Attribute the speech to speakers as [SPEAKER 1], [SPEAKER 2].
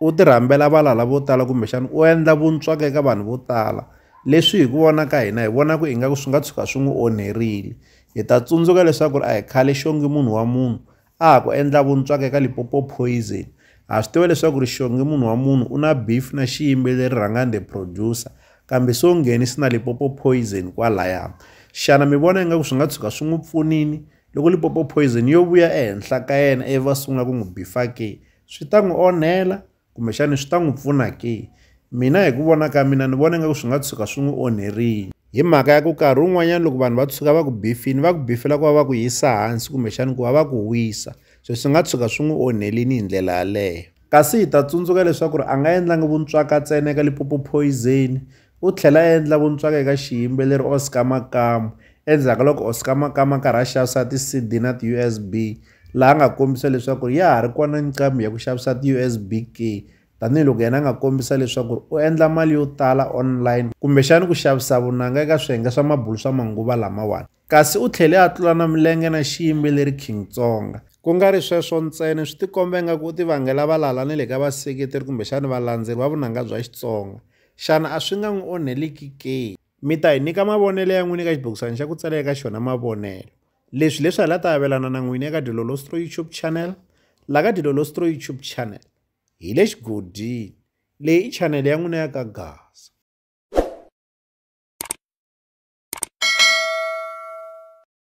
[SPEAKER 1] u ti rhambela valala vo tala kumbexana u endla vuntswaka eka vanhu vo tala leswi hi ku vona ka hina hi vona ku ingaku swi nga tshuka swi n'wi onherile hi ta tsundzuka leswaku ri a hi khale xongi munhu wa munhu a ha ku endla vuntswaka eka lipopo poison ha swi tiva leswaku ri xongi munhu wa munhu u na beef na xiyimbeleri rhangani the producer kambe so ngheni si na lipopo poison kwalaya xana mi vona ingaku swi nga tshuka swi n'wi pfunini loko lipopo poison yo vuya ehenhla ka yena ivi va sungula ku n'wi bifa ke swi ta n'wi onhela kumbexani swi ta n'wi pfuna ke mina hi ku vona ka mina ni vona ingaku swi nga tshuka swi n'wi onherile hi mhaka ya ku karhi wun'wanyana loko vanhu va tshuka va ku bifini va ku bifela ku va va ku yisa hansi kumbexani ku va va ku wisa so swi nga tshuka swi n'wi onhelini hi ndlela yaleyo kasi hi ta tsundzuka leswaku ri a nga endlangi vuntswaka ntsena eka lipopo poison u tlhela a endla vuntswaka eka xiyimbeleri oscar makamu endzhaku ka loko oscar makamu a karhi a xavisa ti-cd na ti-usb laha a nga kombisa leswaku ya ha ri kona nqambi ya ku xavisa ti-usb key tanihiloko yena a nga kombisa leswaku u endla mali yo tala online kumbexani ku xavisa vunanga eka swiyenge swa mabulu swa manguva lamawani kasi u tlhele a tlula na milenge na xiyimbeleri king tsonga ku nga ri sweswo ntsena swi tikomba ingaku u tivangela valala ni le ka vaseketeri kumbexani valandzeri va vunanga bya xitsonga xana a swi nga n'wi onheliki ke mi ta hi nyika mavonelo ya n'wini eka xibokisana xa ku tsala eka xona mavonelo Leswi leswi hi la ta avelana na n'wini eka Dilolostro YouTube channel. La ka Dilolostro YouTube channel hi le xigodini. Leyi i channel ya n'wina ya ka Gasa.